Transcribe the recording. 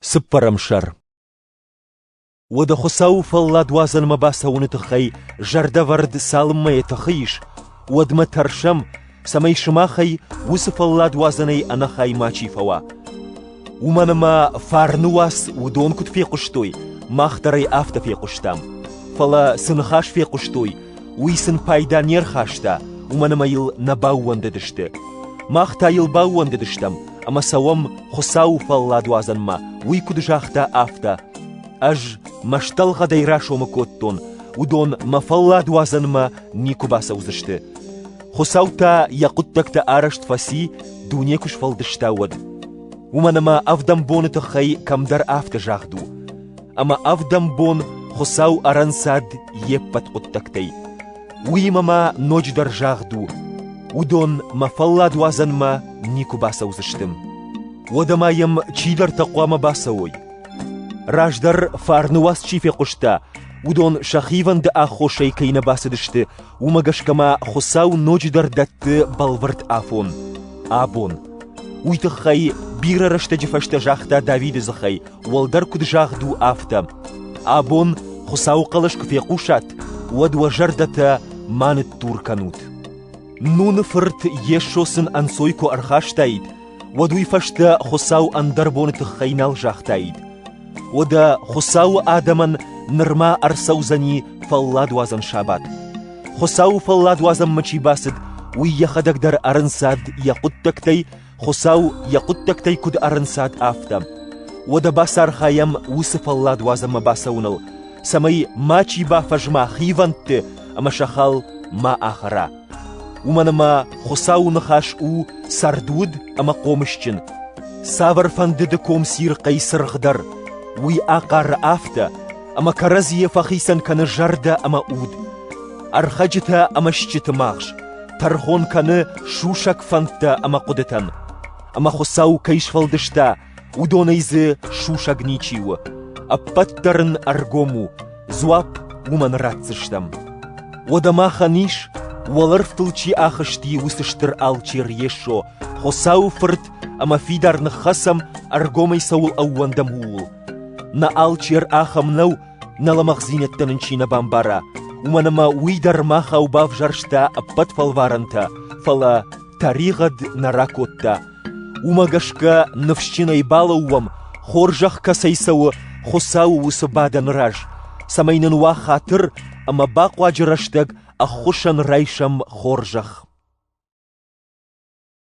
Цыппӕрӕм сӕр Уӕдӕ Хуыцауы фӕлладуадзӕнмӕ бацӕуыны тыххӕй зӕрдӕвӕрд цалынмӕ йӕ тыхы ис, уӕдмӕ тӕрсӕм, цӕмӕй сымахӕй уыцы фӕлладуадзӕнӕй ӕнӕхай мачи фӕуа. Уымӕн ӕмӕ фарны уац уыдон куыд фехъуыстой, мах дӕр ӕй афтӕ фехъуыстам. Фӕлӕ цы ныхас фехъуыстой, Уый сын пайда не рхаста, уымӕн ӕмӕ йыл нӕ баууӕндыдысты. Мах та йыл баууӕндыдыстӕм, ӕмӕ цӕуӕм Хуыцауы фӕлладуадзӕнмӕ, уый куыд загъта, афтӕ. Ӕз мӕстӕлгъӕдӕй расомы кодтон, уыдон мӕ фӕлладуадзӕнмӕ никуы бацӕудзысты. Хуыцау та йӕ хъуыддӕгтӕ арӕзт фӕци, дуне куы сфӕлдыста, уӕд. Уымӕн ӕмӕ ӕвдӕм боны тыххӕй кӕмдӕр афтӕ загъд у: ӕма ӕвдӕмбон Хуцау ӕрӕнцад йе ппӕт хъуддӕгтӕй. Уыимӕ ма ноджыдӕр загъд у, уыдон мӕ фӕлладуадзӕнмӕ никуы бацӕудзысты. Уӕдӕ ма йӕм чидӕртӕ хъуамӕ бацӕуой. Раздӕр фарны уац чи фехъуыста, уыдон сӕ хивӕнды аххосӕй кӕй нӕ бацыдысты, уымӕ гӕсгӕ ма Хуцау ноджыдӕр дӕтты бӕлвырд афон, абон. Уый тыххӕй бирӕ рӕстӕджы фӕстӕ загъта Давиды дзыхӕй, Уӕлдӕр куыд загъд у, афтӕ: Абон Хуыцауы хъӕлӕс куы фехъусат, уӕд уӕ зӕрдӕтӕ ма ныттур кӕнут. Нуны фырт Йесо сын ӕнцой куы ӕрхастаид, уӕд уый фӕстӕ Хуыцау ӕндӕр боны тыххӕй нал загътаид. Уӕдӕ Хуыцауы адӕмӕн нырма ӕрцӕудзӕни фӕлладуадзӕн сабат. Хуыцауы фӕлладуадзӕнмӕ чи бацыд, уый йӕхӕдӕг дӕр ӕрынцад йӕ хъуыддӕгтӕй Хуыцау йӕ хъуыддӕгтӕй куыд ӕрынцад, афтӕ. Уӕдӕ бацархайӕм уыцы фӕллад уадзынмӕ бацӕуыныл, цӕмӕй мачи бафӕзма хивӕндты ӕмӕ сӕ хал ма ахӕра. Уымӕн ӕмӕ Хуыцауы ныхас у цӕрдуд ӕмӕ хъомысджын. Цавӕрфӕнды дыком цирхъӕй цыргъ дӕр, уый ахъары афтӕ, ӕмӕ кӕрӕдзийӕ фӕхицӕн кӕны зӕрдӕ ӕмӕ уд. Ӕрхӕджытӕ ӕмӕ стджыты магъз тӕрхон кӕны сусӕг фӕндтӕ ӕмӕ хъуыдытӕн, ӕмӕ Хуыцау кӕй сфӕлдыста, уыдонӕй дзы сусӕг ничи у, ӕппӕт дӕр ын ӕргом у, дзуапп уымӕн ратдзыстӕм. Уӕдӕ махӕн ис, уӕлӕрвтыл чи ахызти, уыцы стыр алчер Йесо, Хуыцауы Фырт ӕмӕ фидар ныххӕцӕм, ӕргомӕй цӕуыл ӕууӕндӕм, ууыл. Нӕ алчер ахӕм нӕу, Нӕ лӕмӕгъдзинӕдтӕ нын чи нӕ бамбара, уымӕн ӕмӕ уый дӕр махау бавзӕрста ӕппӕт фӕлварӕнтӕ, фӕлӕ тӕригъӕд нӕ ракодта. Уымӕ гӕсгӕ ныфсджынӕй балӕууӕм, хорзӕх кӕцӕй цӕуы Хуыцауы уыцы бадӕны раз, цӕмӕй нын уа хатыр ӕмӕ бахъуаджы рӕстӕг ӕххуысӕн райсӕм хорзӕх.